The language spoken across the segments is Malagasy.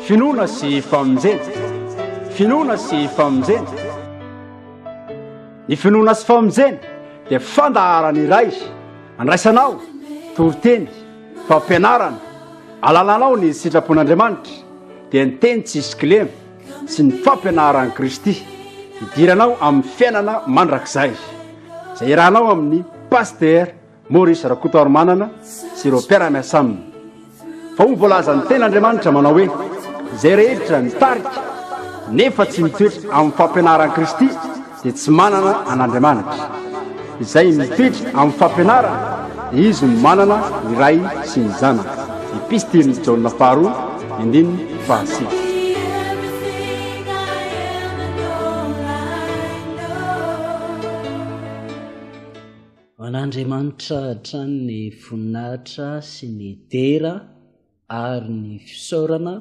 Finoana sy famonjena. Finoana sy famonjena. Ny finoana sy famonjena dia fandaharana iray andraisanao toriteny, fampianarana, alalanao ny sitrapon'Andriamanitra dia ny teny tsisy kilema sy ny fampianaran'i Kristy hidiranao amin'ny fiainana mandrakizay izay irahanao amin'ny pasitera Maurice Rakotoarimanana sy ireo mpiara-miasa aminy fa hoy ny voalazan'ny tena Andriamanitra manao hoe, izay rehetra mitarika nefa tsy mitoetra amin'ny fampianaran'i Kristy dia tsy manana an'Andriamanitra. Izay mitoetra amin'ny fampianarany dia izy no manana ny Ray sy ny Zanaka. Epistilin'i Jaona faharoa, andininy fahasivy. Ho an'Andriamanitra hatrany ny voninahitra sy ny dera ary ny fisaorana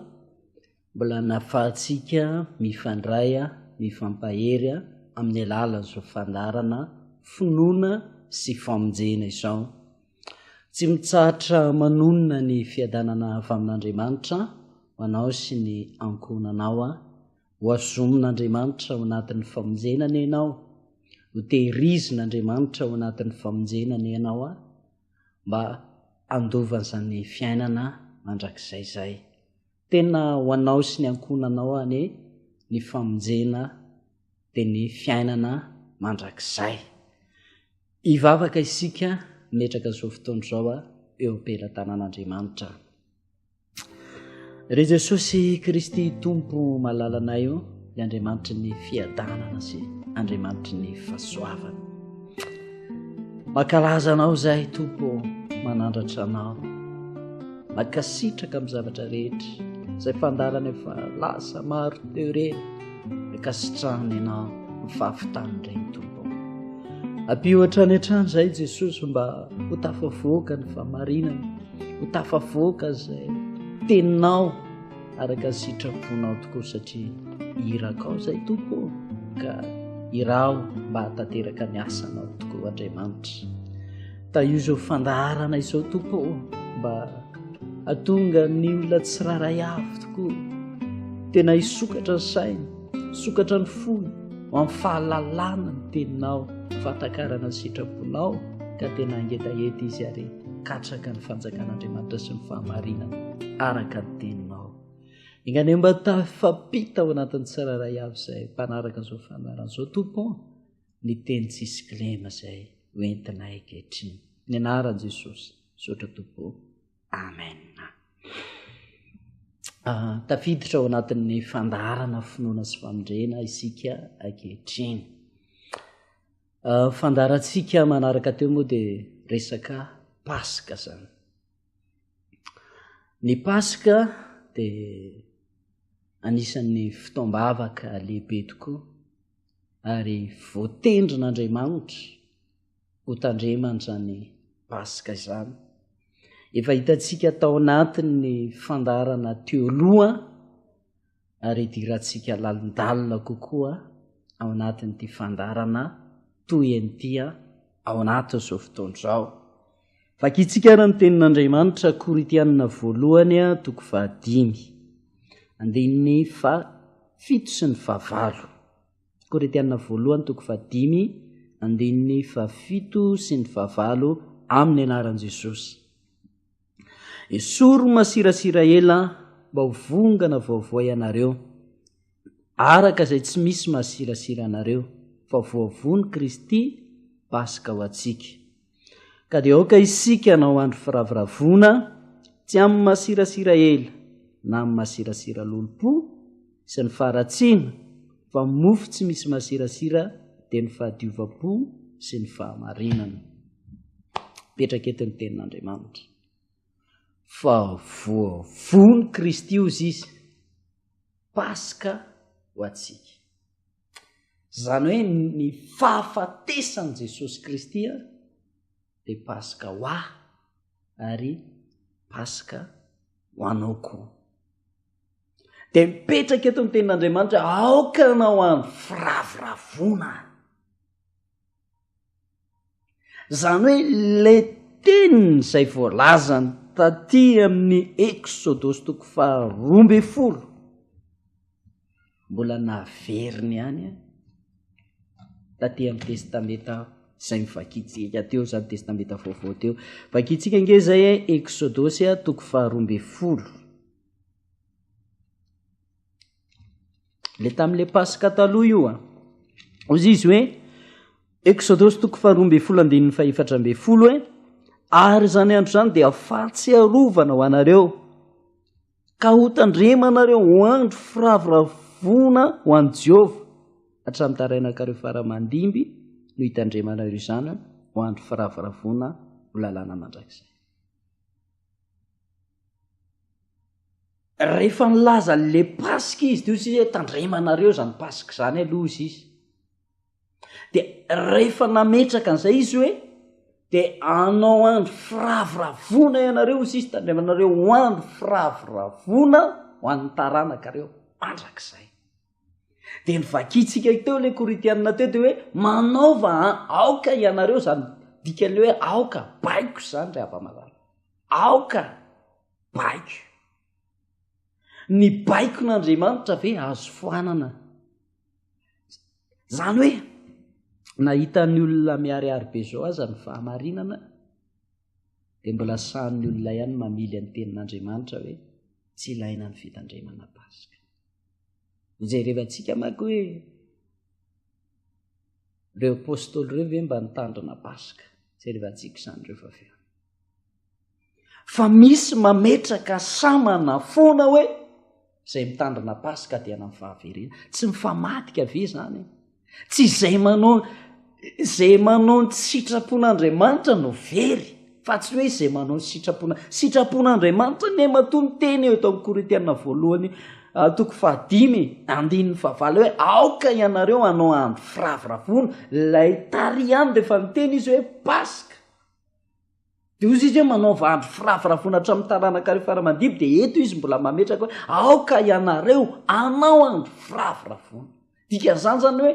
mbola nahafahantsika mifandray mifampahery amin'ny alalan'izao fandaharana Finoana sy Famonjena izao. Tsy mitsahatra manonona ny fiadanana avy amin'Andriamanitra ho anao sy ny ankohonanao aho. Hohazomin'Andriamanitra ao anatin'ny famonjena anie ianao, hotehirizin'Andriamanitra ao anatin'ny famonjena anie ianao a, mba handova an'izany fiainana mandrakizay izay. Tena ho anao sy ny ankohonanao anie ny famonjena dia ny fiainana mandrakizay. Hivavaka isika metraka izao fotoana izao eo am-pelatanan'Andriamanitra. Ry Jesosy Kristy Tompo malalanay o, i Andriamanitry ny fiadanana sy Andriamanitry ny fahasoavana. Makalaza anao zahay Tompo manandratra anao. Makasitraka amin'ny zavatra rehetra izay fandalana efa lasa maro teo ireny. Makasitrahana ianao ny fahafitany ireny Tompo. Ampio hatrany hatrany zahay Jesosy mba ho tafavoaka ny famarinana. ho tafavoaka izay teninao araka ny sitraponao tokoa satria irakao izay tompo ka iraho mba hatanteraka ny asanao tokoa andriamanitra ta io izao fandaharana izao tompo mba atonga ny olona tsiraray avy tokoa tena hisokatra ny saina Misokatra ny fony ho amin'ny fahalalana ny teninao, fahatakarana ny sitraponao, ka tena hangetaheta izy ary katraka ny fanjakan'Andriamanitra sy ny fahamarinana araka ny teninao. Enganie mba tafampita ao anatin'ny tsirairay avy izay mpanaraka izao fanarana izao tompo ny teny tsisy kilema izay hoentinay ankehitriny. Ny anaran'i Jesosy, misaotra tompo. amen ah, tafiditra ao anatin'ny fandaharana finoana sy famindrena isika akehitriny ah, fandaharantsika manaraka teo moa dia resaka paska zany ny paska dia anisan'ny fitaom-bavaka lehibe tokoa ary voatendrin'andriamanitra ho tandremany izany Paska izany. Efa hitantsika tao anatin'ny fandarana teo loha ary hidirantsika lalindalina kokoa ao anatin'ity fandarana toy an'itya ao anatin'izao fotoana izao. Vakintsika ary ny tenin'Andriamanitra Korintianina voalohany toko fahadimy andininy fa fito sy ny fahavalo. Korintiana voalohany toko fahadimy andininy fahafito sy ny fahavalo amin'ny anaran'i Jesosy. Esory masirasira ela mba ho vongana vaovao ianareo, araka izay tsy misy masirasira anareo, fa voavono Kristy Paska ho antsika. Ka dia aoka isika hanao andro firavoravoana, tsy amin'ny masirasira ela na amin'ny masirasira lolompo sy ny faharatsiana, fa ny mofo tsy misy masirasira dia ny fahadiovam-po sy ny fahamarinana. Mipetraka eto ny tenin'Andriamanitra. Fa voavono Kristy ozy izy, Paska ho antsika. Izany hoe ny fahafatesan'i Jesosy Kristy dia Paska ho ahy ary Paska ho anao koa. Dia mipetraka eto ny tenin'Andriamanitra aoka ianao andro firavoravoana. Izany hoe le teny izay voalazany taty amin'ny Eksodosy toko faharoa amby folo, mbola naveriny ihany an, taty amin'ny Testamenta izay novakintsika teo izany, Testamenta vaovao teo. Vakintsika ange izay Eksodosy toko faharoa amby folo. le tamin'le paska taloha io a ozy izy hoe exodos toko faharoa mbe folo andininy fahefatra mbe folo hoe ary zany andro zany dia fahatsiarovana ho anareo ka hotandrema anareo ho andro firavoravoana ho any jehovah hatramin'ny tarainakareo faramandimby no hitandrema anareo izany ho andro firavoravoana ho lalàna mandrakizay Rehefa nilaza an'le paska izy teo sisa hoe tandremanareo izany paska izany aloha sisa dia rehefa nametraka an'izay izy hoe dia anao andro firavoravoana ianareo ho sisa tandremanareo ho andro firavoravoana ho an'ny taranakareo mandrakizay Dia ny vakintsika teo ilay Korintianina teo dia hoe manaova an, aoka ianareo izany dikan'ilay hoe aoka, baiko izany ry hava-malala. Aoka, baiko. Ny baikon'Andriamanitra ve azo foanana? Izany hoe, nahita ny olona miharihary be izao aza ny fahamarinana, dia mbola sahin'ny olona ihany ny mamily ny tenin'Andriamanitra hoe tsy ilaina ny fitandremana Paska. Hojerevantsika manko hoe ireo apôstôly ireo ve mba nitandrina Paska? Jerevantsika izany ireo fa avy Fa misy mametraka samana foana hoe izay mitandrina paska dia anan'ny fahaverena tsy mifamadika ve zany tsy izay manao zay manao ny sitrapon'andriamanitra no very fa tsy hoe izay manao ny sitrapona sitrapon'andriamanitra ne matoa ny teny eo tao koritiana voalohany ah, toko fahadimy andininy fahavalo hoe aoka ianareo anao andro firaviravona lay tariany rehefa niteny izy hoe paska Dia hozy izy hoe, Manaova andro firavoravoana hatramin'ny taranaka ireo fara-mandibo, dia eto izy mbola mametraka hoe, Aoka ianareo hanao andro firavoravoana. Dikan'izany izany hoe,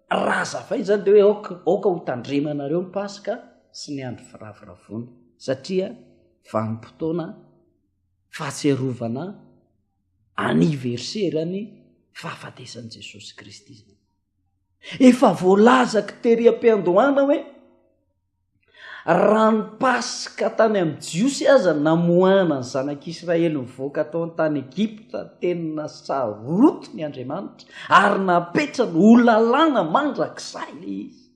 raha hazava izany dia hoe, aoka, aoka ho tandremanareo ny Paska sy ny andro firavoravoana, satria vanim-potoana fahatsiarovana aniverserany fahafatesan'i Jesosy Kristy izany. Efa voalazako tery am-piandohana hoe, Raha ny Paska tany amin'ny Jiosy aza namoahana ny Zanak'Israely nivoaka tao an-tany Egypta, teny nasarotin' i Andriamanitra ary napetrany ho lalàna mandrakizay ilay izy.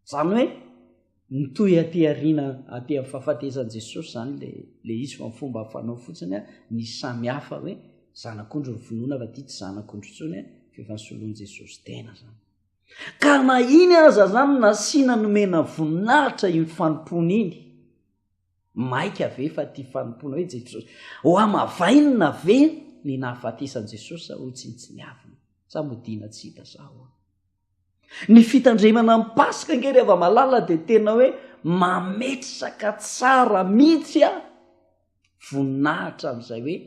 Izany hoe mitohy aty aoriana aty amin'ny fahafatesany Jesosy izany ilay ilay izy fa ny fomba fanao fotsiny a ny samy hafa hoe zanak'ondry ny finoana fa ity tsy zanak'ondry intsony a fa efa nosoloan'i Jesosy tena izany. Ka na iny aza zany nasiana nomena voninahitra iny fanompoana iny, maika ve fa tia fanompoana hoe Jesosy? Hohamavainina ve ny nahafatesan'i Jesosy sa hotsinotsiniavina? Sa modiana tsy hita sa ahoana? Ny fitandremana ny Paska ange ry hava-malala dia tena hoe mametraka tsara mihitsy voninahitra amin'izay hoe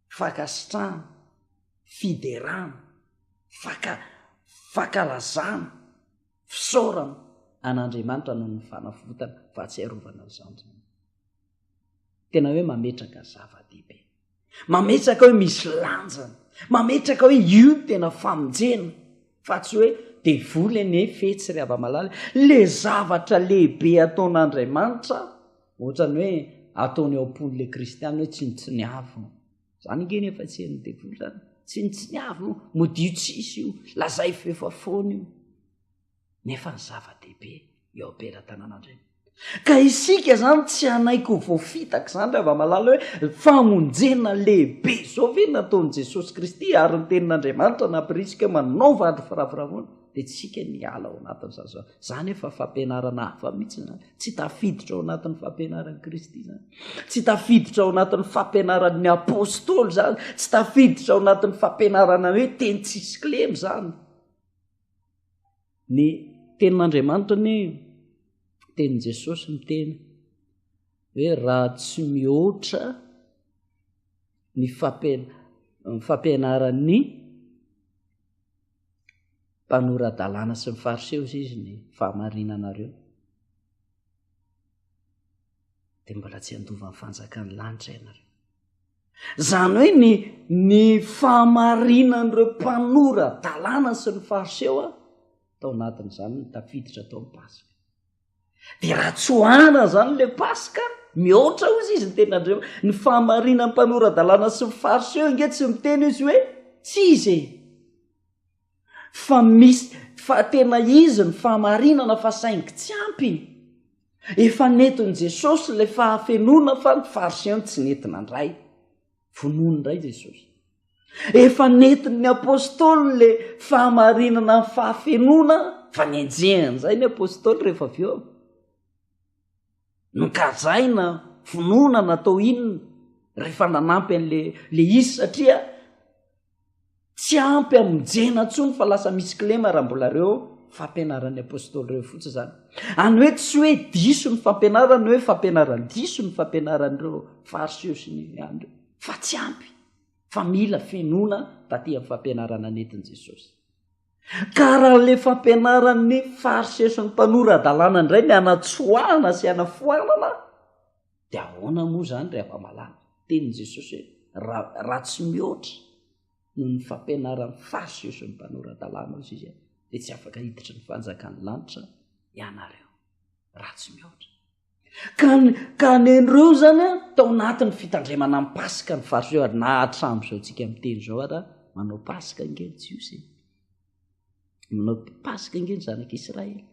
fankasitrahana, fiderana, fanka, fankalazana, fisaorana an'Andriamanitra noho ny fanavotana, fahatsiarovana ny zandriny. Tena hoe mametraka zava-dehibe. Mametraka hoe misy lanjany. Mametraka hoe io tena famonjena. Fa tsy hoe devoly anie fetsy ry hava-malala. Le zavatra lehibe ataon'Andriamanitra Ohatrany hoe ataony ao am-pony le kristiana hoe tsinontsiniavo. Zany nge nefa tsy henon'ny devoly zany. Tsinontsiniavo io, modiho tsisy io, lazay fa efa foana io. Nefa ny zava-dehibe eo am-pelatanan'Andriamanitra. Ka isika zany tsy hanaiky ho voafitaka zany ry hava-malala hoe famonjena lehibe zao ve nataon'i Jesosy Kristy ary ny tenin'Andriamanitra nampirisika hoe manaova andro firavoravoana. dia tsika ny hiala ao anatin'ny zazao zany efa fampianarana hafa mihitsy zany tsy tafiditra ao anatin'ny fampianaran'i kristy zany tsy tafiditra ao anatin'ny fampianaran'ny apôstôly zany tsy tafiditra ao anatin'ny fampianarana hoe teny tsisy klemy zany ny tenin'andriamanitra ny tenin'i jesosy ny teny hoe raha tsy mihoatra ny fampian fampianaran'ny mpanora-dalàna sy ny fariseo izay izy ny fahamarinanareo dia mbola tsy handovan'ny fanjakan'ny lanitra ianareo izany hoe ny ny fahamarinan'ireo mpanora dalàna sy ny fariseo a tao anatin'izany ny tafiditra tao ny paska de raha tsoahana zany le paska mihoatra ozy izy ny tena andriama ny fahamarina ny mpanoradalàna sy ny farso eo nge tsy miteny izy hoe tsy izy e fa misy fa tena izy ny fahamarinana fa saingy tsy ampy efa netiny jesosy le fahafenona fa ny farso eo ny tsy netina ndray vonony ndray jesosy Efa nentin'ny Apostoly le fahamarinana ny fahafenoana fa nenjehiny izay ny Apostoly rehefa avy eo. Nokajaina, vonoana, natao inona rehefa nanampy an'le le izy satria tsy ampy amonjena ntsony fa lasa misy kilema raha mbola reo fampianaran'ny Apostoly reo fotsy izany. Any hoe tsy hoe diso ny fampianarany hoe fampianarany diso ny fampianaran'ireo fariseo sy ny andro fa tsy ampy. fa mila fenoana taty amin'ny fampianarana nentin'i Jesosy. Karan'ilay fampianaran'ny fariseson'ny mpanora adalàna indray ny anatsoahana sy anafoanana, dia ahoana moa izany ry afa-malala? Tenin'i Jesosy hoe raha tsy mihoatra noho ny fampianaran'ny fariseson'ny mpanora adalàna hoy izy dia tsy afaka hiditra ny fanjakan'ny lanitra ianareo raha tsy mihoatra. Ka ka nenreo zany a tao anatin'ny fitandremana ny paska ny fariseo ary na hatramin'izao tsika miteny zao ara manao paska nge ny jiosy manao paska nge ny zanak'i israely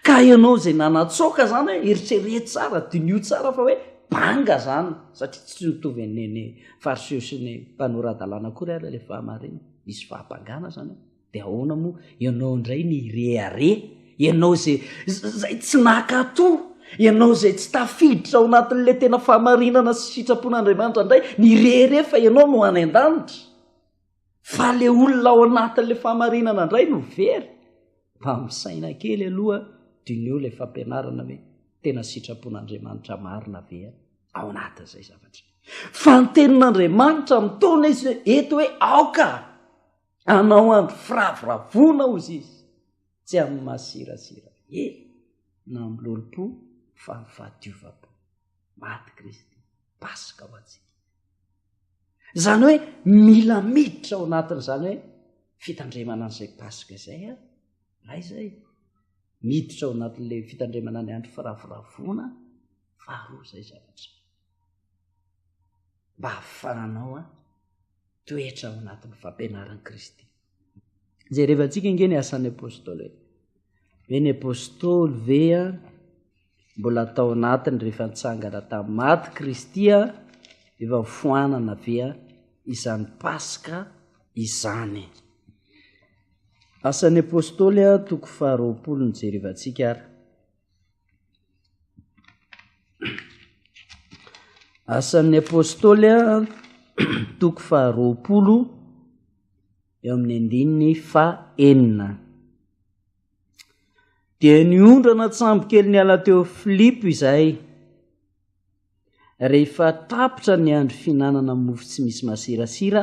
ka ianao zay nanatsoaka zany hoe eritrereto tsara dinio tsara fa hoe banga zany satria tsy mitovy an'neny fariseo sy ny mpanora-dalàna akory ara le fahamarina misy fahapangana zany de ahoana moa ianao indray ny hirehareha ianao zay zay tsy nakato ianao zay tsy tafiditra ao anatin'le tena fahamarinana sy sitrapon'andriamanitra indray ny rehere fa ianao no any an-danitra fa le olona ao anatin'le fahamarinana indray no very mba misaina kely aloha dineo le fampianarana hoe tena sitrapon'andriamanitra marina ve ao anatin'izay zavatra fa ny tenin'andriamanitra mitona izy eto hoe aoka Anao andro firavoravoana, hozy izy, tsy amin'ny masirasira hery, na amin'ny lolom-po, fa amin'ny fahadiovam-po. Maty Kristy, Paska ho antsika. Izany hoe mila miditra ao anatin'izany hoe fitandremana an'izay Paska izay aho, na izay miditra ao anatin'ilay fitandremana ny andro firavoravoana, faharoa izay zavatra. mba hahafahanao a toetra ao anatin'ny fampianaran'i kristy zay rehevantsika nge ny asan'ny apôstôly e ve ny apôstôly ve a mbola atao anatiny rehefa nitsangana tamin'ny maty kristy a efa foanana ve a izany paska izany asan'ny apôstôly a toko faharoapolo ny jerevantsika ary Asan'ny Apôstôly toko faharoapolo eo amin'ny andininy fahenina. Dia niondrana tsambokely niala teo Filipo izay rehefa tapitra ny andro fihinanana mofo tsy misy masirasira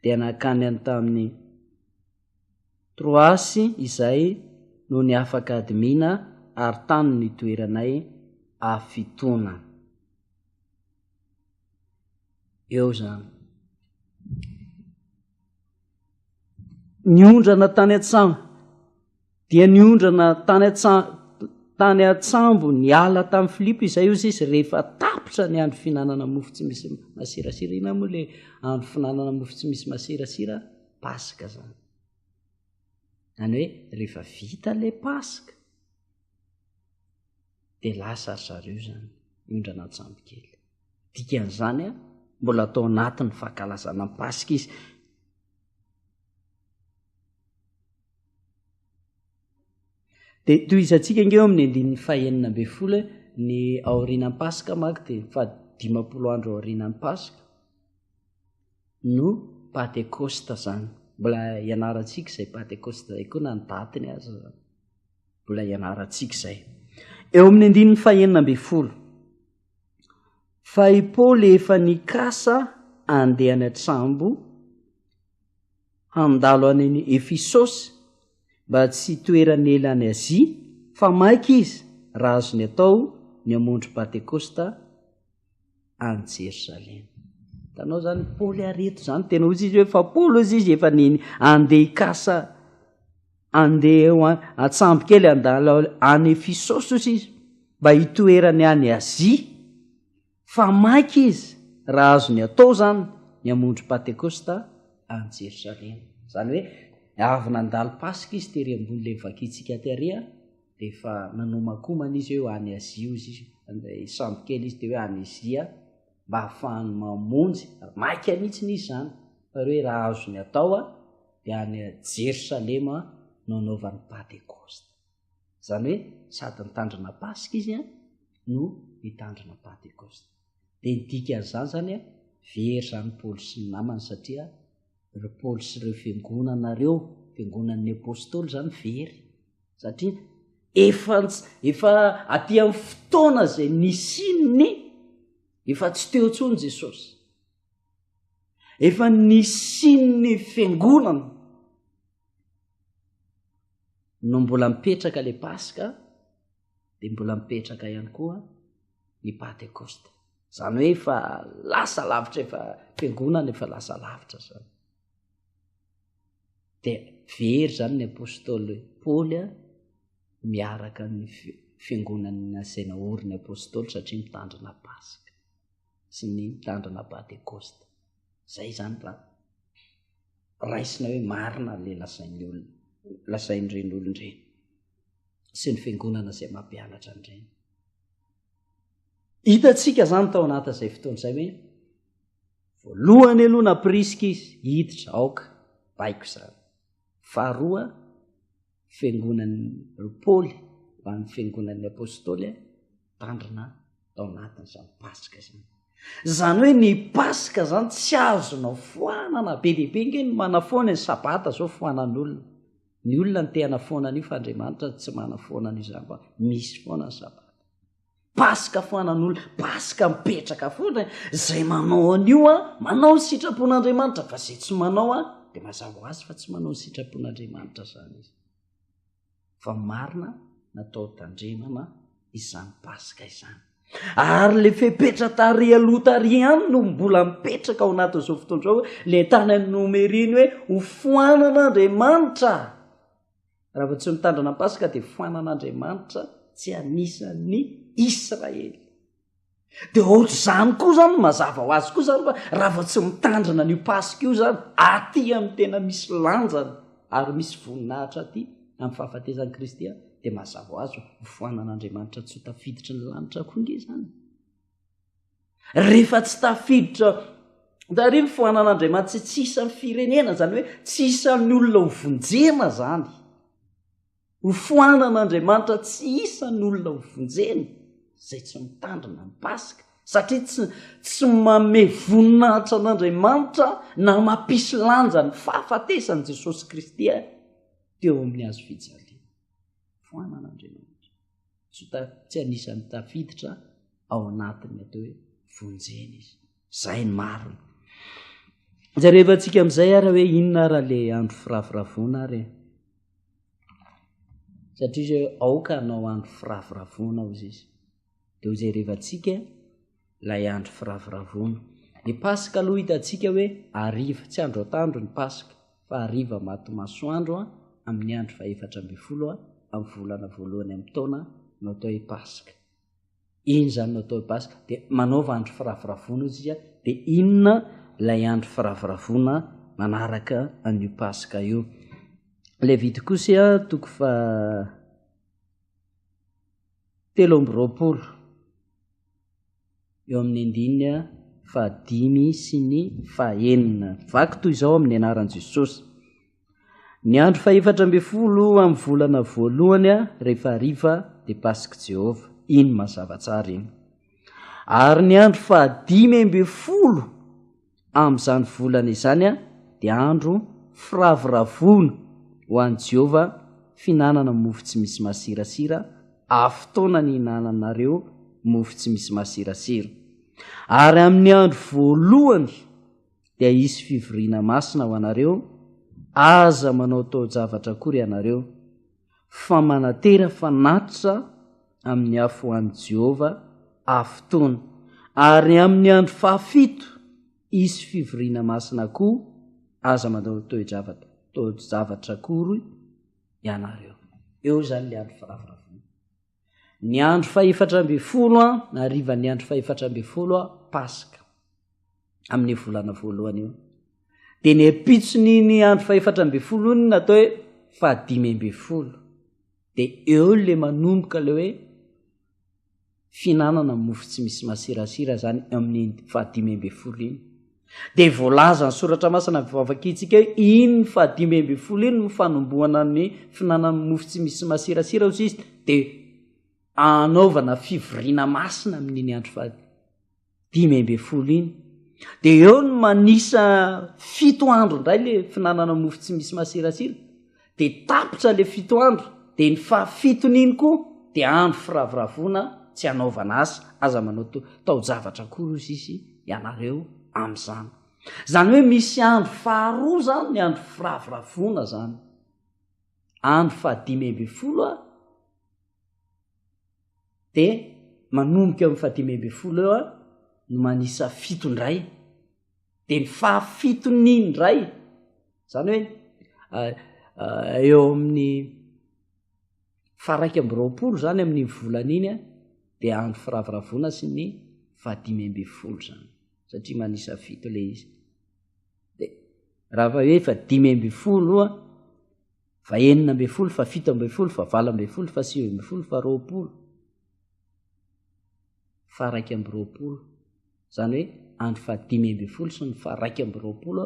dia nakany an-tamin'ny Trois izay no ny afaka admin ary tano ny toeranay afitonana. Eo zany. Niondrana tany an-tsaha. Dia niondrana tany an-tany an-tsambo niala tamin'i Filipo izay ozy izy rehefa tapitra ny andro fihinanana mofo tsy misy masirasira. Inona moa ilay andro fihinanana mofo tsy misy masirasira? Paska izany. Any hoe rehefa vita ilay Paska dia lasa ry zareo izany miondrana an-tsambo kely. Dikan'izany a, mbola tao anatin'ny fankalazana ny Paska izy. dia tohizantsika ange eo amin'ny andininy fahenina ambe folo ny aorianan'ny paska mak dia fahadimapolo andro aorianan'ny paska no patekosta zany mbola ianarantsika izay patekosta zay koa na ny datiny azy zany mbola ianarantsika izay eo amin'ny andininy fahenina ambe folo fa i paoly efa nikasa andeha any an-tsambo handalo any an'i Efisosy mba tsy hitoerany ela any Azia, fa maika izy raha azony atao ny hamonjy Pantekosta any Jerosalema. Hitanao izany, Paoly ary eto izany, tena hozy izy hoe fa Paoly hozy izy efa ny andeha hikasa, andeha ho an-tsambo kely handalo any Efisosy hozy izy, mba hitoerany any Azia. fa maika izy raha azony atao izany ny hamonjy Pantekosta any Jerosalema. Izany hoe avy nandalo Paska izy tery ambony ilay vakintsika tery a, dia efa nanomakomana izy hoe any Azia hozy izy, ilay sambo kely izy dia hoe any Azia mba hahafahany mamonjy, maika mihitsiny izy izany fa hoe raha azony atao a, dia any Jerosalema no anaovany Pantekosta. Izany hoe sady nitandrina Paska izy no nitandrina Pantekosta. Dia ny dikan'izany izany hoe very izany Paoly sy ny namany satria ry Paoly sy ireo fiangonana ireo, fiangonan'ny apostoly izany very satria efa efa aty amin'ny fotoana izay nisian'ny efa tsy teo intsony Jesosy. Efa nisian'ny fiangonana. no mbola mipetraka le paska de mbola mipetraka ihany koa ny patekosta zany hoe efa lasa lavitra efa fiangonana efa lasa lavitra zany de very zany ny apôstôly paoly a miaraka ny fiangonany nasaina ory ny apôstôly satria mitandrina paska sy ny mitandrina patekosta zay zany raha raisina hoe marina le lazain'ny olona lazain'ireny olona ireny sy ny fiangonana zay mampianatra an'ireny hitatsika zany tao anatin' izay fotoana izay hoe voalohany aloha na prisika izy hiditra aoka baiko izany faharoa fiangonan'i Paoly ho an'ny fiangonan'ny Apôstôly tandrina tao anatin'izany Paska izany. Izany hoe ny Paska izany tsy azonao foanana, be dia be ange ny manafoana ny Sabata izao foanan'olona. Ny olona no te hanafoana an'io fa Andriamanitra tsy manafoana an'io izany fa misy foana ny Sabata. Paska foanan'olona, Paska mipetraka foana e! Izay manao an'io an, manao ny sitrapon'Andriamanitra, fa izay tsy manao an, dia mazava ho azy fa tsy manao ny sitrapon'Andriamanitra izany izy. Fa marina natao tandremana izany Paska izany. Ary ilay fepetra tary aloha tary ihany no mbola mipetraka ao anatin'izao fotoan'izao, ilay tany amin'ny nomeriny hoe ho foanan'Andriamanitra. Raha vao tsy mitandrina ny Paska dia foanan'Andriamanitra tsy anisan'ny Israely. Dia ohatr'izany koa izany mazava ho azy koa izany fa raha vao tsy mitandrina an'io Paska io izany aty amin'ny tena misy lanjany ary misy voninahitra aty amin'ny fahafatesan'i Kristy dia mazava ho azy ho foanan'Andriamanitra tsy ho tafiditry ny lanitra koa nge izany. Rehefa tsy tafiditra tary ny foanan'Andriamanitra tsy isan'ny firenena, izany hoe tsy isan'ny olona ho vonjena izany. Ho foanan'Andriamanitra tsy isan'ny olona ho vonjena izay tsy mitandrina ny Paska, satria tsy tsy mame voninahitra an'Andriamanitra na mampisy lanja ny fahafatesan'i Jesosy Kristy teo amin'ny hazo fijaliana. Foanan'Andriamanitra. tsy anisan'ny tafiditra ao anatin'ny atao hoe vonjena izy zay ny marina za rehefa antsika am'izay ara hoe inona ara le andro firavoravoana ary satria zay aoka anao andro firavoravoana ao izy izy de ho zay rehefa antsika ilay andro firavoravoana. Ny Paska aloha hitantsika hoe hariva, tsy andro atoandro ny Paska fa hariva maty masoandro amin'ny andro fahefatra ambin'ny folo amin'ny volana voalohany amin'ny taona no atao hoe Paska. Iny izany no atao hoe Paska, dia manaova andro firavoravoana isika, dia inona ilay andro firavoravoana manaraka an'io Paska io? Levitikosy toko fa telo amby roapolo. eo amin'ny andininy fahadimy sy ny fahenina vaky toy izao amin'ny anaran'i Jesosy. Ny andro fahefatra ambin'ny folo amin'ny volana voalohany rehefa hariva dia Pasik'i Jehovah. Iny mazava tsara iny. Ary ny andro fahadimy ambin'ny folo amin'izany volana izany dia andro firavoravoana ho an'i Jehovah, fihinanana mofo tsy misy masirasira, ary fotoana nihinananareo mofo tsy misy masirasira. Ary amin'ny andro voalohany dia hisy fivoriana masina ho anareo, aza manao taon-javatra akory ianareo. fa manatera fanatitra amin'ny afo ho an'i Jehovah afotoana, ary amin'ny andro fahafito hisy fivoriana masina koa, aza manao toe-javatra toe-javatra akory ianareo. Eo izany ilay andro firavoravoana. Ny andro fahefatra ambin'ny folo an, harivan'ny andro fahefatra ambin'ny folo an, Paska, amin'io volana voalohany io. Dia ny ampitson'iny andro fahefatra ambin'ny folo iny no atao hoe fahadimy ambin'ny folo. Dia eo le manomboka le hoe fihinanana mofo tsy misy masirasira zany amin'ny fahadimy ambin'ny folo iny. Dia voalazan'ny Soratra Masina vavakintsika hoe iny fahadimy ambin'ny folo iny no fanombohana ny finanan'ny mofo tsy misy masirasira, hoy izy, dia anaovana fivoriana masina amin'iny andro fahadimy dimy ambin'ny folo iny dia eo ny manisa fito andro indray le finanana mofo tsy misy masirasira de tapitra le fito andro de ny faha fiton'iny koa de andro firavoravoana tsy anaovana asa aza manao taojavatra akory ozy izy ianareo am'zany zany hoe misy andro faharoa zany ny andro firavoravoana zany andro fahadimy amby folo a de manomboka am'y fahadimy amby folo eo a no manisa fito ndray dia ny fahafitony indray zany hoe eh, eh, eo amin'ny faraika ambyroapolo zany amin'ny volan'iny a dia andro firaviravona sy ny fahadimy amby folo zany satria manisa fito le izy de raha fa hoe fa dimy amby folo a fa enina amby folo fa fito amby folo fa valo amby folo fa sivy amby folo fa roapolo fa raika amby roapolo izany hoe andro faha dimy ambin'ny folo sy ny faha raika amby roapolo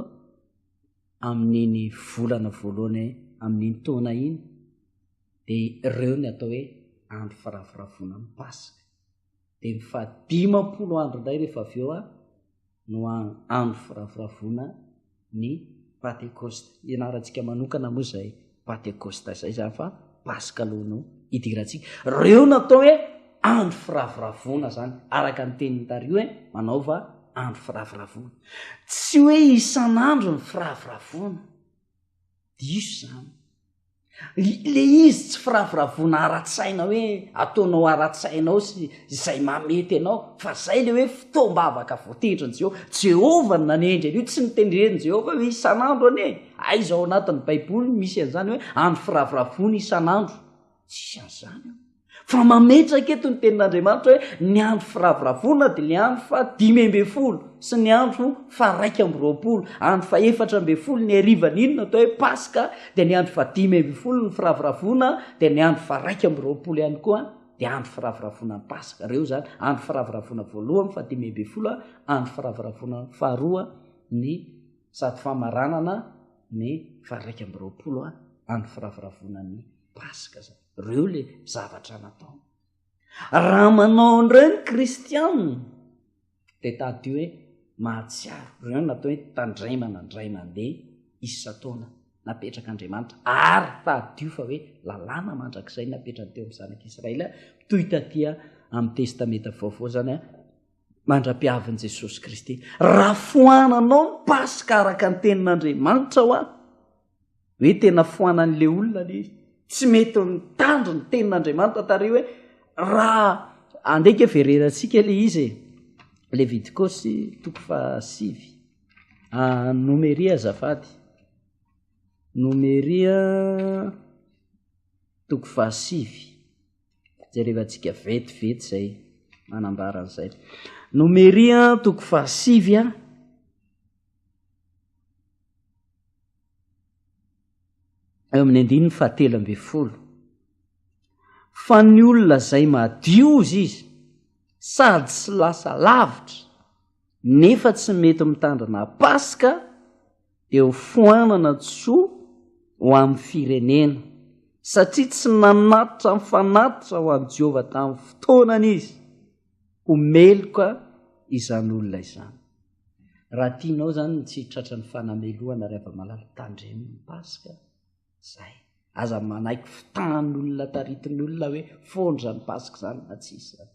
amin'iny volana voalohany amin'iny taona iny dia ireo ny atao hoe andro firavoravoana ny paska dia ny faha dimampolo andro indray rehefa avy eo a no andro firavoravoana ny Pantekosta. Ianarantsika manokana moa izay Pantekosta izay izany fa Paska aloha no idirantsika. Reo no atao hoe andro firavoravoana izany, araka ny tenin'i Dario hoe manaova andro firavoravoana. Tsy hoe isan'andro ny firavoravoana. Diso izany. le izy tsy firavoravoana ara-tsaina hoe ataonao ara-tsaina ao sy izay mamety anao fa zay le hoe fotoam-bavaka voatendrin'i jehovah jehovah no nanendry an'io tsy nitendren'i jehovah hoe isan'andro anie aiza ao anatin'ny baiboly misy an'izany hoe andro firavoravoana isan'andro tsisy an'izany ao Fa mametraka eto ny tenin'Andriamanitra hoe ny andro firavoravoana dia ny andro fa dimy ambin'ny folo sy ny andro fa raika amby roapolo, andro fa efatra ambin'ny folo ny harivan'iny no atao hoe Paska, dia ny andro fa dimy ambin'ny folo ny firavoravoana, dia ny andro fa raika amby roapolo ihany koa dia andro firavoravoana ny Paska. Ireo izany, andro firavoravoana voalohany fa dimy ambin'ny folo, andro firavoravoana faharoa ny sady famaranana ny fa raika amby roapolo andro firavoravoana ny Paska izany. Reo le zavatra natao. Raha manao an'ireo ny kristianina dia tady hoe mahatsiaro. Reo no atao hoe tandremana indray mandeha isan-taona napetrak'Andriamanitra ary tadidio fa hoe lalàna mandrakizay napetrany teo amin'ny zanak'Israely toy taty amin'ny testamenta vaovao zany a mandra-piavin'i Jesosy Kristy. Raha foananao ny Paska araka ny tenin'Andriamanitra hoa Hoe tena foanan'ilay olona ilay izy. Tsy mety mitandro ny tenin'Andriamanitra tary hoe raha andeha ke vererantsika ilay izy e. Levitikosy toko fahasivy. Ah, nomeria azafady. Nomeria toko fahasivy. Jerevantsika vetivety zay manambara an'izay. Nomeria toko fahasivy a. eo amin'ny andininy fahatelo amby folo fa ny olona izay madiozy izy sady tsy lasa lavitra nefa tsy mety mitandrina paska dia ho foanana tsoa ho amin'ny firenena satria tsy nanatitra ny fanatitra ho an'i Jehovah tamin'ny fotoanany izy ho meloka izany olona izany Raha tianao izany ny tsy hitratra ny fanamelohana ry Havamalala, tandremo ny Paska. Izay. Aza manaiky fotahan'ny olona taritin'ny olona hoe foana izany Paska izany na tsy hisy izany.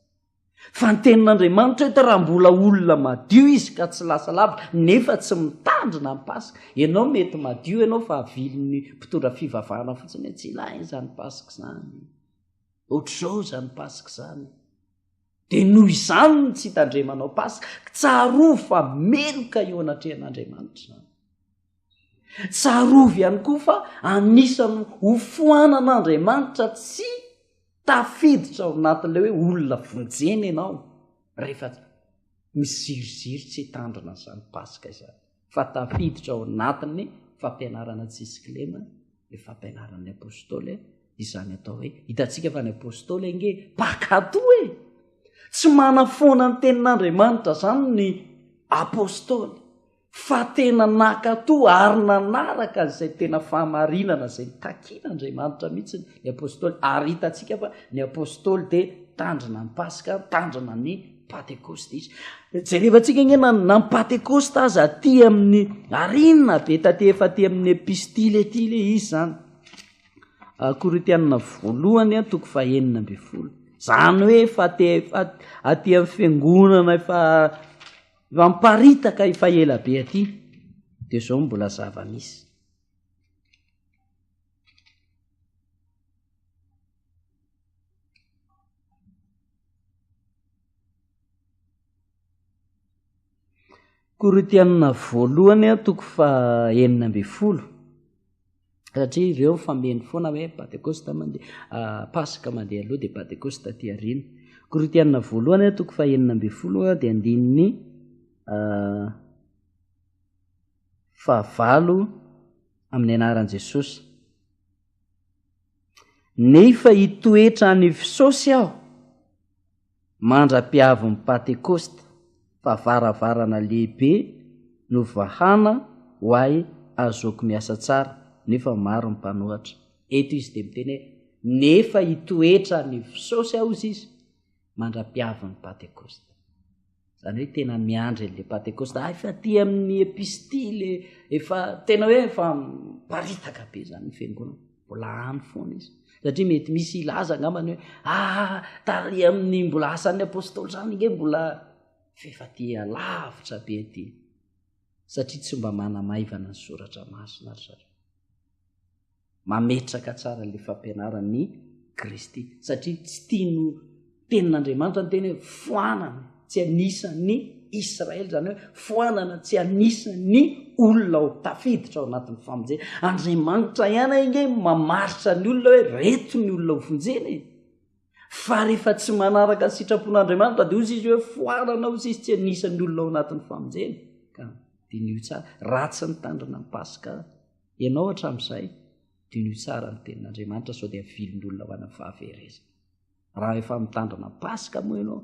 Fa ny tenin'Andriamanitra eto raha mbola olona madio izy ka tsy lasa lavitra nefa tsy mitandrina ny Paska. Ianao mety madio ianao fa avilin'ny mpitondra fivavahana fotsiny hoe tsy ilaina izany Paska izany. Ohatr'izao izany Paska izany. Dia noho izany no tsy hitandremanao Paska, tsarovy fa meloka eo anatrehan'Andriamanitra izany. Tsarovy ihany koa fa anisany hofoanan'Andriamanitra tsy tafiditra ao anatin'ilay hoe olona vonjena ianao rehefa misiriziry tsy hitandrina izany Paska izany. fa tafiditra ao anatin'ny fampianarana tsisy kilema ny fampianaran'ny apôstôly izany atao hoe hitantsika fa ny apôstôly ange pakato e tsy manafoana ny tenin'andriamanitra zany ny apôstôly fa tena nakato ary nanaraka an'izay tena fahamarinana zay takina andriamanitra mihitsy ny apôstôly ary hitantsika fa ny apôstôly dia tandrina ny paska tandrina ny patekosta izy jerevantsika nge na na patekosta aza aty amin'ny arina be tate efa aty amin'ny epistile aty le izy zany ah, korotianina voalohany a toko fahenina amby folo zany hoe efa te efa aty amin'ny fiangonana efa efa mparitaka efa ela be aty de zao no mbola zava misy Korintiana voalohany toko faha enina ambin'ny folo satria ireo fameno foana hoe patekosta mandeha ah, paska mandeha aloha dia patekosta aty aoriana korintiana voalohany toko faha enina ambin'ny folo dia andininy ah, fahavalo amin'ny anaran'i jesosy Nefa hitoetra any Fsosy aho mandra-piavin'ny Pantekosta, fa varavarana lehibe no vahana ho ahy ahazoako miasa tsara, nefa maro ny mpanohatra. Eto izy dia miteny hoe, Nefa hitoetra any Fsosy aho, hoy izy, mandra-piavin'ny Pantekosta. Izany hoe tena miandry an'ilay Pantekosta. Ah, efa aty amin'ny epistily, efa tena hoe efa paritaka be izany ny fiangonana. Mbola any foana izy. Satria mety misy hilaza angambany hoe ah, tary amin'ny mbola asan'ny apôstôly izany nge mbola f'efa aty alavitra be aty. Satria tsy mba manamaivana ny soratra masina ry zareo. mametraka tsara le fampianaran'ny Kristy satria tsy tian'o tenin'Andriamanitra ny teny hoe foanana tsy anisan'ny Israely zany hoe foanana tsy anisan'ny olona ao tafiditra ao anatin'ny famonjena Andriamanitra ihany inge mamaritra ny olona hoe reto ny olona hofonjena e fa rehefa tsy manaraka ny sitrapon'Andriamanitra de ozy izy hoe foanana ozy izy tsy anisan'ny olona ao anatin'ny famonjena ka dinio tsara raha tsy nitandrina ny paska Ianao hatramin'izay, dinoy tsara ny tenin'Andriamanitra sao dia vilon'olona ho ana fahaverezana. Raha efa mitandrina Paska moa ianao,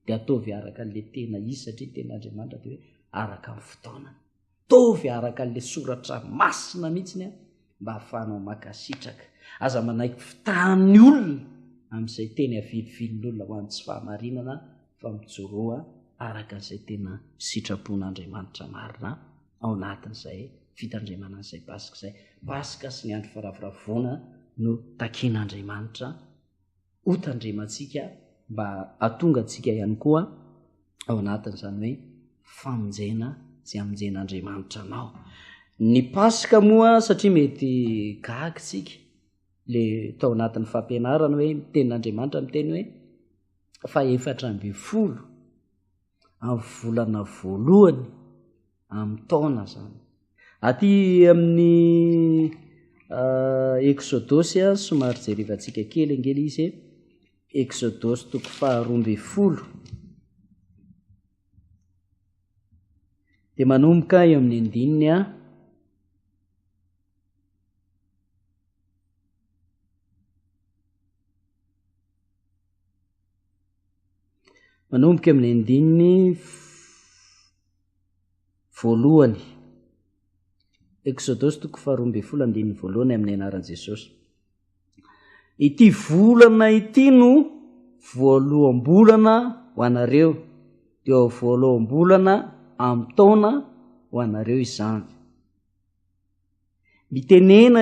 dia ataovy araka an'ilay tena izy satria ny tenin'Andriamanitra dia hoe araka ny fotoanany. Ataovy araka an'ilay soratra masina mihitsiny mba hahafahanao mankasitraka. Aza manaiky fitahan'ny olona amin'izay teny avilivilon'olona ho an'ny tsy fahamarinana fa mijoroa araka izay tena sitrapon'Andriamanitra marina. ao anatin'izay fitandremana an'izay Paska izay. Paska sy ny andro faravoravoana no takin'Andriamanitra hotandremantsika mba hatonga antsika ihany koa ao anatin'izany hoe famonjena sy amonjen'Andriamanitra anao. Ny Paska moa satria mety gagy tsika le tao anatin'ny fampianarana hoe ny tenin'Andriamanitra miteny hoe fa efatra amby folo amin'ny volana voalohany amin'ny taona zany aty amin'ny euh, exodosy a somary jerevantsika kely angely izy exodosy toko faharombe folo de manomboka eo amin'ny andininy a manomboka amin'ny andininy voalohany exodosy toko faharoa ambin'ny folo andininy voalohany amin'ny anaran'i jesosy ity volana ity no voaloham-bolana ho anareo de ao voaloham-bolana ami'ny taona ho anareo izany Mitenena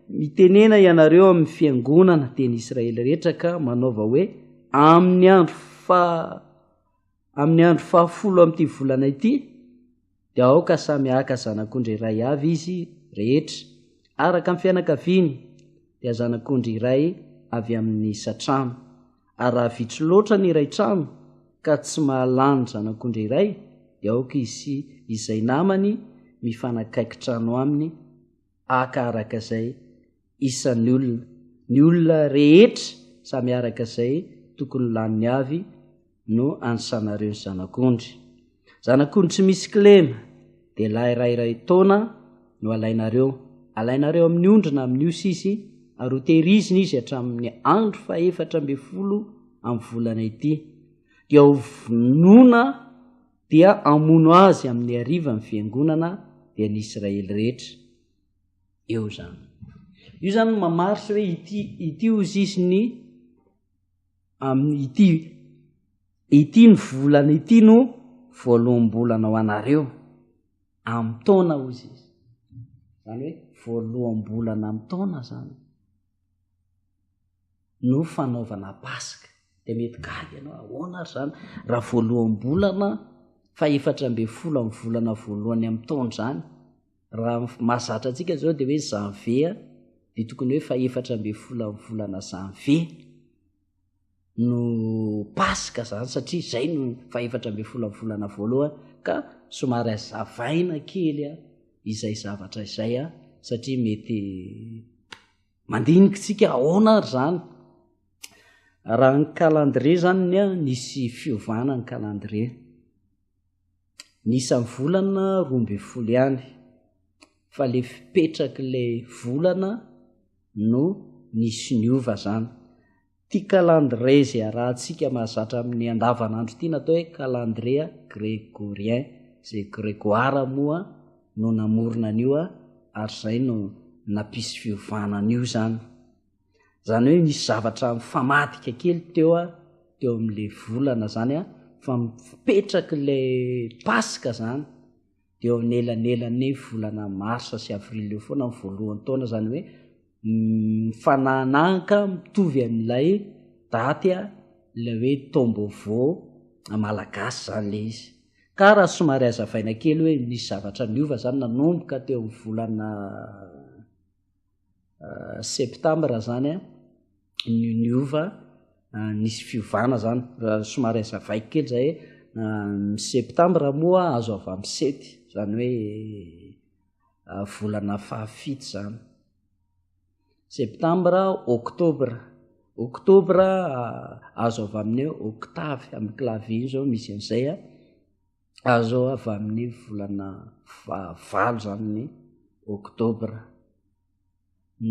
Mitenena ianareo amin'ny fiangonana teny Israely rehetra ka manaova hoe, Amin'ny andro faha Amin'ny andro fahafolo amin'ity volana ity, dia aoka samy haka zanak'ondry iray avy izy rehetra, araka ny fianakaviany, dia zanak'ondry iray avy amin'ny isan-trano. ary raha vitsy loatra ny iray trano ka tsy mahalany zanak'ondry iray dia aoka izy sy izay namany mifanakaiky trano aminy aka araka izay isan'ny olona ny olona rehetra samy araka izay tokony laniny avy no ansanareo ny zanak'ondry Zanakony tsy misy kilema dia lahy ray iray taona no alainareo, alainareo amin'ny ondry na amin'ny osy izy ary ho tehirizina izy hatramin'ny andro fahefatra ambin'ny folo amin'ny volana ity, dia ho vonoina dia hamono azy amin'ny hariva ny fiangonana dia ny Israely rehetra. Eo izany. Io izany mamarisy hoe ity, ity hoy izy ny amin'ny ity ity ny volana ity no voaloham-bolana ho anareo amin'ny taona ho izy izy zany hoe voaloham-bolana amin'ny taona zany no fanaovana paska de mety gaga ianao ahoana ary zany raha voaloham-bolana fa efatra ambe folo amin'ny volana voalohany amin'ny taona zany Raha ny mahazatra antsika izao dia hoe Janvier dia tokony hoe fahefatra ambin'ny folo amin'ny volana Janvier no Paska izany satria izay no fahefatra ambin'ny folo amin'ny volana voalohany ka somary azavaina kely a izay zavatra izay a satria mety mandinikintsika ahoana ary izany raha ny calendrier izany ny a nisy fiovana ny calendrier ny isan'ny volana roa ambin'ny folo ihany fa le fipetrak'ilay volana no nisy niova zany ty calendrier izay arahantsika mahazatra amin'ny andavanandro ity natao hoe calendrier gregorien izay gregoire moa no namorona an'io ary izay no nampisy fiovana an'io zany zany hoe nisy zavatra mifamadika kely teo a teo am'le volana zany a fa mipetraky le paska zany de eo amin'ny elanelan'ny volana marsa sy avril eo foana ny voalohany taona zany hoe mifananahaka mitovy amin'ilay daty a ilay hoe tombovo malagasy zany le izy ka raha somary azavaina kely hoe misy zavatra niova zany nanomboka teo amin'ny volana septambra zany a ny niova nisy fiovana zany raha somary aza vaiko kely zay ny septambra moa azo avy am sety zany hoe volana fahafito zany septambra oktobra oktobra azo avy aminy octavy amy clavier zao misy an'izay a Azo avy amin'ny volana fahavalo izany ny oktobra.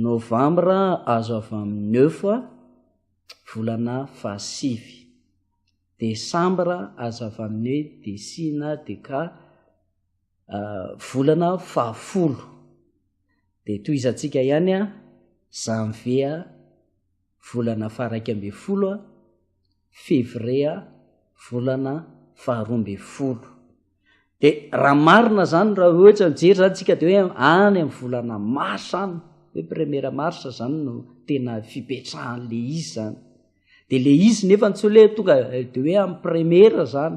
Novambra azo avy amin'ny œuf, volana fahasivy. Desambra azo avy amin'ny desina, deka, volana fahafolo. Dia tohizantsika ihany janvier. volana faharaika ambin'ny folo, Février volana faharoa ambin'ny folo. Dia raha marina izany raha ohatra mijery izany tsika dia hoe any amin'ny volana mars any, hoe première mars izany no tena fipetrahan'le izy izany. Dia le izy nefa ny tsy hoe tonga eh, dia hoe amin'ny première izany,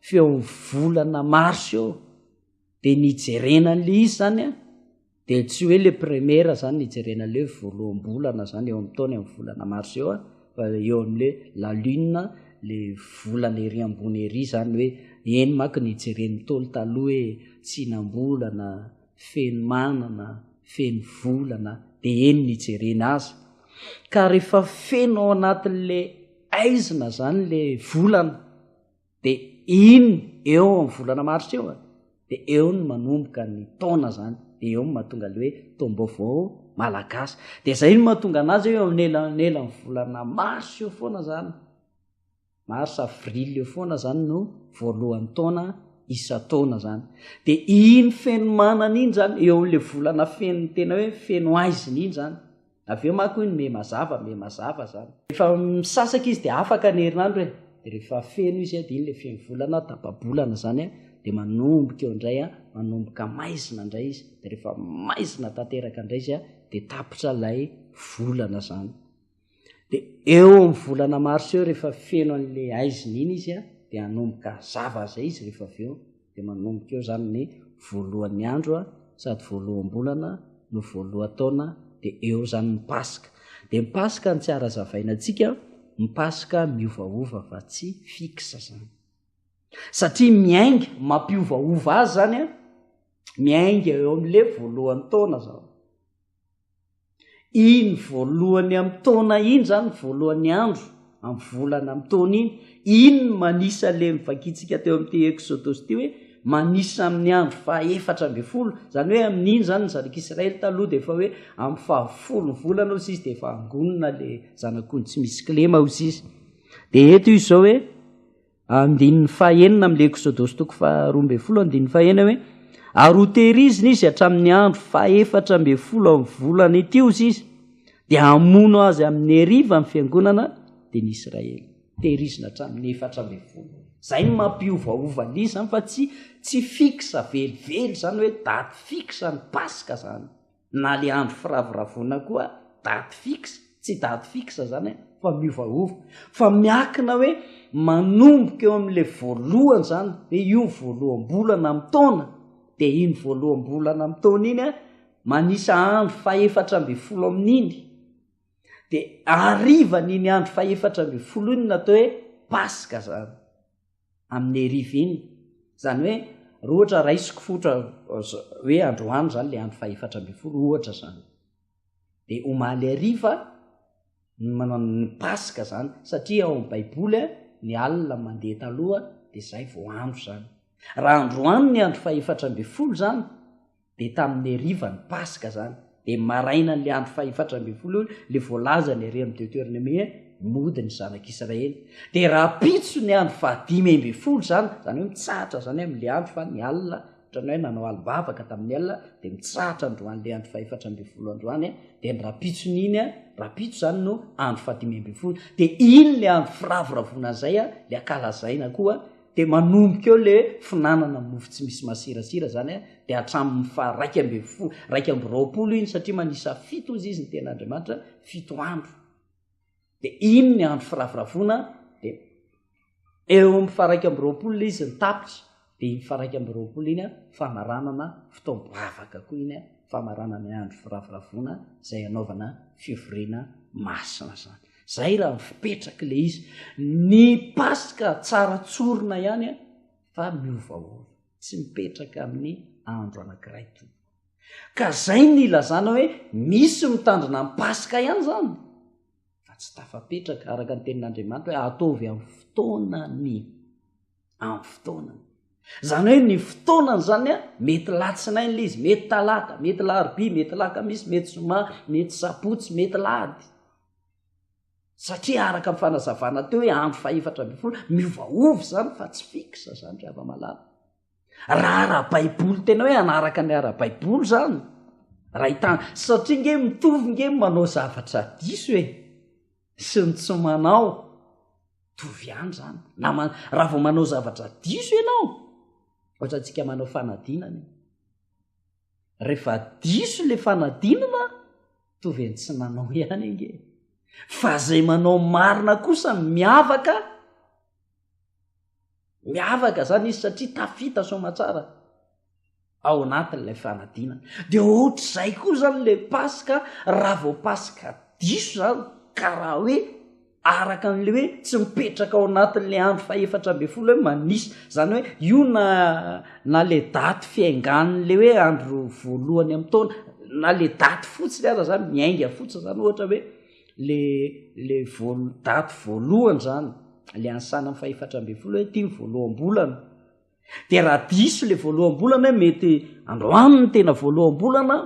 fa eo amin'ny volana mars eo. Dia nijerena an'le izy izany an, Dia tsy hoe le première zany no hijerena le voaloham-bolana zany eo amin'ny taona eo amin'ny volana mars eo a, fa eo amin'le la lune, le volana ery ambony ery zany hoe eny manko ny hijeren'ny Ntaolo taloha hoe tsinam-bolana, feno manana, feno volana, dia eny no hijerena azy. Ka rehefa feno ao anatin'le aizina zany le volana, de iny eo am volana marsa eo a de eo ny manomboka ny taona zany de eo ny mahatonga le hoe taom-baovao malagasy de zay no mahatonga anazy eo am nelanelany volana marsa eo foana zany mars avril eo foana zany no voalohany taona isan-taona zany de iny fenomanana iny zany eo amle volana fenony tena hoe feno aizina iny zany Avy eo manko hoy ny me mazava, me mazava zany. Rehefa misasaka izy dia afaka ny herinandro e, dia rehefa feno izy dia iny ilay feno volana, tapa-bolana zany a, dia manomboka eo indray a, manomboka maizina indray izy, dia rehefa maizina tanteraka indray izy a, dia tapitra ilay volana zany. Dia eo amin'ny volana marsa eo rehefa feno an'ilay aizina iny izy a, dia hanomboka zava izay izy rehefa avy eo, Dia manomboka eo izany ny voalohan'ny andro sady voaloham-bolana no voalohan-taona dia eo izany ny Paska. Dia ny Paska no tsy harazavaina antsika, ny Paska miovaova fa tsy fixe izany. Satria miainga, mampiovaova azy izany, miainga eo amin'ilay voalohan-taona izany. Iny voalohany amin'ny taona iny izany, voalohany andro amin'ny volana amin'ny taona iny, iny no manisa ilay novakintsika teo amin'ity Eksodosy ity hoe manisa amin'ny andro fahaefatra ambin'ny folo, izany hoe amin'iny izany ny zanak'Israely taloha dia efa hoe amin'ny fahafolon'ny volana hozy izy dia efa angonina ilay zanak'ondry tsy misy kilema hozy izy. Dia eto izy izao hoe. andininy fahenina amin'le Eksodosy toko faharoa ambin'ny folo andininy fahena hoe ary hotehirizina izy hatramin'ny andro fahefatra ambin'ny folo amin'ny volana ity ozy izy dia hamono azy amin'ny heriva amin'ny fiangonana dia ny Israely tehirizina hatramin'ny efatra ambin'ny folo zay ny mampiovaova ny izany fa tsy tsy fixe velively zany hoe daty fixe ny paska zany na le andro firavoravoana koa date fixe tsy date fixe zany e fa miovaova fa miakina hoe manomboka eo amle voalohany zany hoe io voaloham-bolana am taona de iny voaloham-bolana am taona iny a manisa andro fahefatra ambe folo amin'iny de arivan'iny andro fahefatra ambe folo iny natao hoe paska zany amin'ny rivine, izany hoe raha ohatra raisiko fotra hoe androany izany ilay andro fahefatra ambin'ny folo ohatra izany, dia omaly hariva ny manao ny paska izany satria ao amin'ny baiboly a ny alina mandeha taloha dia izay vao andro izany, raha androany ny andro fahefatra ambin'ny folo izany dia tamin'ny hariva ny paska zany dia marainan'le andro fahefatra ambin'ny folo eo le voalazany ery amin'ny deuteronome hoe mody ny zanak'israely dia rapitso ny andro fahadimy ambin'ny folo zany zany hoe mitsahatra zany amin'le andro fa ny alina otrany hoe nanao alibavaka tamin'ny alina dia mitsahatra androan'le andro fahefatra ambin'ny folo androany dia ny rapitson'iny a rapitso zany no andro fahadimy ambin'ny folo dia iny le andro firavoravoana zay a le akalazaina koa dia manomboka eo le finanana mofo tsy misy masirasira zany a dia hatramin'ny fa raika amby fo raika amby raopolo iny satria manisa fito ozy izy ny tena andriamanitra fito andro dia iny ny andro firavoravoana dia eo amn'y fa raika amby raopolo le izy ny tapitra dia iny fa raika amby raopolo iny a famaranana fotombo avaka koa iny a famaranana andro firavoravoana zay anaovana fivoriana masina zany Zay raha mifipetraky le izy. Ny paska tsara tsorina ihany an, fa miovaova. Tsy mipetraka amin'ny andro anakiray tompoko. Ka zay ny ilazana hoe misy mitandrina ny paska ihany zany, fa tsy tafapetraka araka ny tenin'Andriamanitra hoe ataovy amin'ny fotoanany. amin'ny fotoanany zany hoe ny fotoanany zany a mety latsinay nla izy mety talata mety larobi mety laka misy mety zoma mety sabotsy mety lady satria araka ny fanazavana teo hoe andro fahefatra amby folo miovaovy zany fa tsy fixe zany ry havamalala raha ara-baiboly tena hoe anaraka ny ara-baiboly zany raha hitan satria nge mitovy nge manao zavatra diso e sy ny tsy manao tovy ihany zany na raha vao manao zavatra diso ianao ohatra ntsika manao fanadinana rehefa diso le fanadinana tovy any tsy nanao ihany ange fa zay manao marina kosa miavaka Miavaka izany izy satria tafita soamatsara ao anatin'ilay fanadinana. Dia ohatr'izay koa izany ilay Paska raha vao Paska diso izany ka raha hoe araka an'le hoe tsy mipetraka ao anatin'le andro fahefatra ambe folo hoe manisa zany hoe io na na le daty fiaingan'le hoe andro voalohany ami'y taona na le daty fotsiny aza zany miainga fotsiny zany ohatra hoe le le voalo daty voalohany zany le any sanam fahefatra ambin'ny folo hoe ty ny voaloham-bolana de raha diso le voaloham-bolana hoe mety androany ny tena voaloham-bolana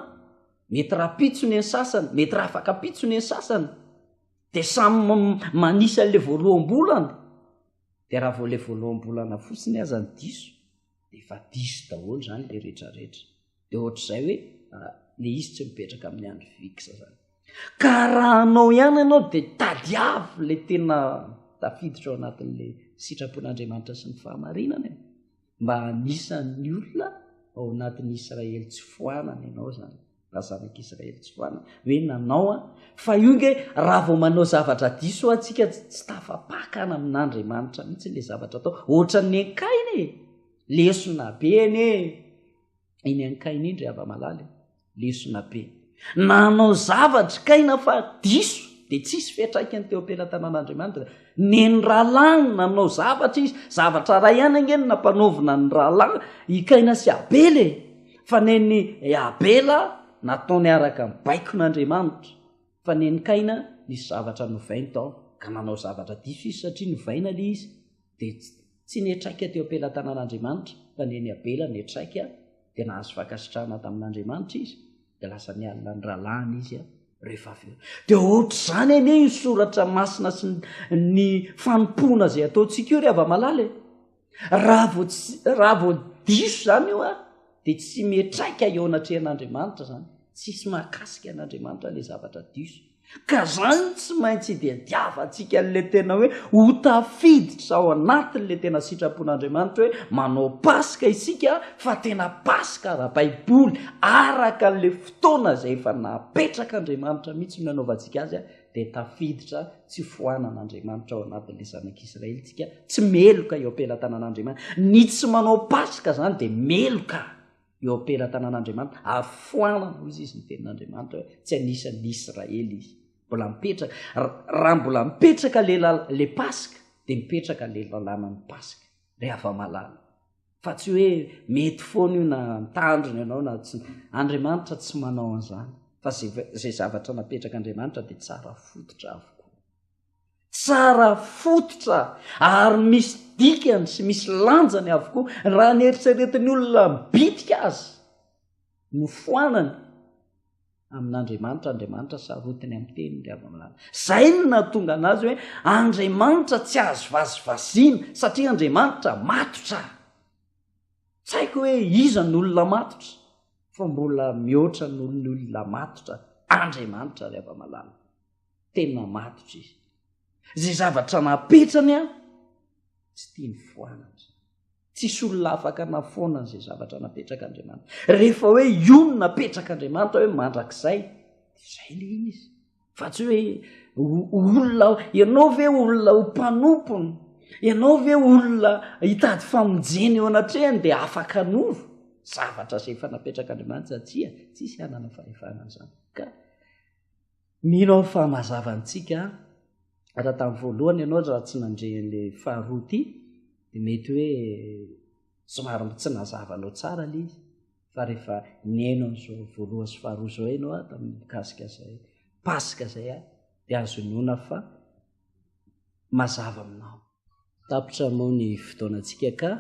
mety raha pitso ny sasany mety raha afaka pitso ny sasany de samy manisa an'le voaloham-bolana de raha vao le voaloham-bolana fotsiny aza ny diso de efa diso daholo zany le retraretra dia ohatr'izay hoe le izy tsy mipetraka amin'ny andry vixe zany ka raha anao ihany ianao de tady avy le tena tafiditra ao anatin'le sitrapon'andriamanitra sy ny fahamarinana e mba anisan'ny olona ao anatin'ny israely tsy foanana ianao zany raha zanaka israely tsy foanana hoe nanao a fa io nge raha vao manao zavatra diso atsika tsy tafapakana amin'andriamanitra mihitsy le zavatra atao ohatra ny ankaina e lesona be anie iny ankaina indry ava malala e lesona be nanao zavatry kaina fa diso de tsisy fetraika ny teo am-pelatanan'andriamanitra neny rahalahy ny nanao zavatra izy zavatra ray ihany ange ny nampanaovina ny rahalahy hikaina sy abela e fa neny abela nataony araka ny baikon'andriamanitra fa neny kaina nisy zavatra novainy tao ka nanao zavatra diso izy satria novaina le izy dia tsy netraika teo am-pelatanan'Andriamanitra fa ny eny Abela netraika dia nahazo fankasitrahana tamin'Andriamanitra izy dia lasa nialona ny rahalahiny izy rehefa avy eo dia ohatr'izany anie io soratra masina sy ny fanompoana izay ataontsika io ry havamalala e raha vao raha vao diso izany io a dia tsy metraika eo anatrehan'Andriamanitra izany tsisy mahakasika an'Andriamanitra ilay zavatra diso Ka izany tsy maintsy idiadiavantsika an'ilay tena hoe ho tafiditra ao anatin'ilay tena sitrapon'Andriamanitra hoe manao Paska isika fa tena Paska ara-baiboly, araka an'ilay fotoana izay efa napetrak'Andriamanitra mihitsy no hanaovantsika azy dia tafiditra tsy foanan'Andriamanitra ao anatin'ilay zanak'Israelintsika tsy meloka eo am-pelatanan'Andriamanitra. Ny tsy manao Paska izany dia meloka. eo am-pelatanan'Andriamanitra, ary foanana, hoy izy, ny tenin'Andriamanitra hoe tsy anisan'ny Israely izy. Mbola mipetraka. Raha mbola mipetraka le Paska, dia mipetraka le lalànan'ny Paska, le hava-malala. Fa tsy hoe mety foana io na mitandrina ianao na tsy. Andriamanitra tsy manao an'izany. Fa izay zavatra napetrak'Andriamanitra dia tsara fototra avokoa. Tsara fototra ary misy dikany sy misy lanjany avokoa raha ny eritreretin'ny olona bitika azy no foanany amin'Andriamanitra, Andriamanitra sarotiny amin'ny teniny ry Avanolana. Izay no nahatonga anazy hoe Andriamanitra tsy azo vazivaziana satria Andriamanitra matotra. Tsy haiko hoe iza ny olona matotra fa mbola mihoatra noho ny olona matotra Andriamanitra ry Avanolana. Tena matotra izy. Izay zavatra napetrany an, tsy tia ny foanatra. Tsisy olona afaka nafoana izay zavatra napetrak'Andriamanitra. Rehefa hoe io no napetrak'Andriamanitra hoe mandrakizay, izay le izy. Fa tsy hoe olona ianao ve olona ho mpanompony? Ianao ve olona hitady famonjena eo anatrehany dia afaka nova? Zavatra izay efa napetrak'Andriamanitra tsia, tsisy hanana fahefana an'izany. Ka Mino aho fa mazava amintsika raha tamin'ny voalohany ianao raha tsy nandre an'ilay faharoa ity dia mety hoe somary mba tsy nazava anao tsara ilay izy fa rehefa nihaino an'izao voalohany sy faharoa izao ianao a tamin'ny mikasika izay paska izay a dia azo inoana fa mazava aminao tapitra moa ny fotoanantsika ka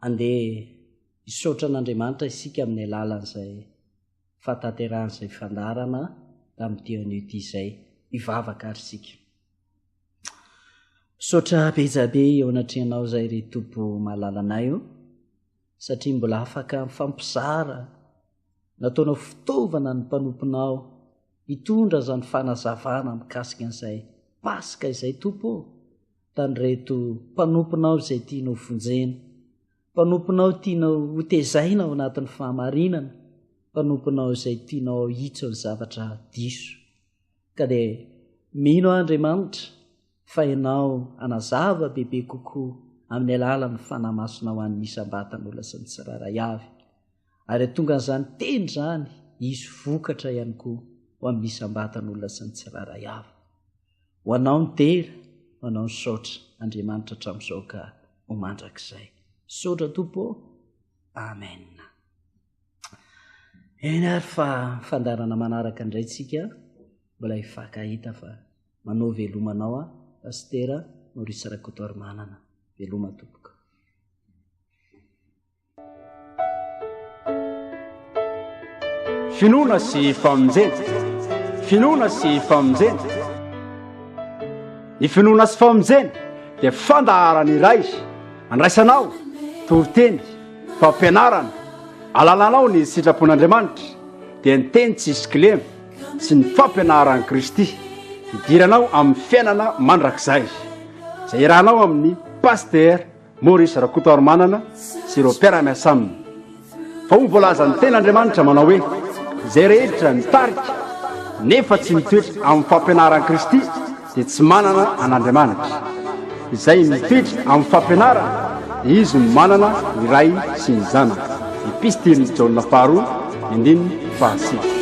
andeha hisaotra an'andriamanitra isika amin'ny alalan'izay fahatanterahan'izay fandaharana tamin'ity anio ity izay hivavaka ary isika. Misaotra bezabe eo anatrehanao izay ry Tompo malalanay o, satria mbola afaka mifampizara nataonao fitaovana ny mpanomponao hitondra izany fanazavana mikasika an'izay Paska izay Tompo o, tamin'ireto mpanomponao izay tianao vonjena Mpanomponao tianao hotezaina ao anatin'ny fahamarinana, mpanomponao izay tianao hahitsy ny zavatra diso. Ka dia mino aho Andriamanitra fa Ianao hanazava bebe kokoa amin'ny alalan'ny Fanahy Masinao an'ny isam-batan'olona sy ny tsirairay avy. Ary hatongan'izany teny izany hisy vokatra ihany koa ho amin'ny isam-batan'olona sy ny tsirairay avy. Ho anao ny tera, ho anao ny saotra, Andriamanitra hatramin'izao ka ho mandrakizay. Misaotra Tompo ô! Amen. Eny ary fa fandarana manaraka indray tsika, mbola hifankahita fa manao velomanao a Pastera Maurice Rakotoarimanana. Veloma Tompoko. Finoana sy famonjena. Finoana sy famonjena. Ny finoana sy famonjena dia fandaharana iray andraisanao toriteny, fampianarana, alalanao ny sitrapon'Andriamanitra dia ny teny tsy hisy kilema sy ny fampianaran'i Kristy hidiranao amin'ny fiainana mandrakizay izay irahanao amin'ny pasitera Maurice Rakotoarimanana sy ireo mpiara-miasa aminy, fa hoy ny voalazan'ny tena Andriamanitra manao hoe, Izay rehetra mitarika nefa tsy mitoetra amin'ny fampianaran'i Kristy dia tsy manana an'Andriamanitra. Izay mitoetra amin'ny fampianarany dia izy no manana ny Ray sy ny Zanaka. Epistilin'i Jaona faharoa, andininy fahasivy.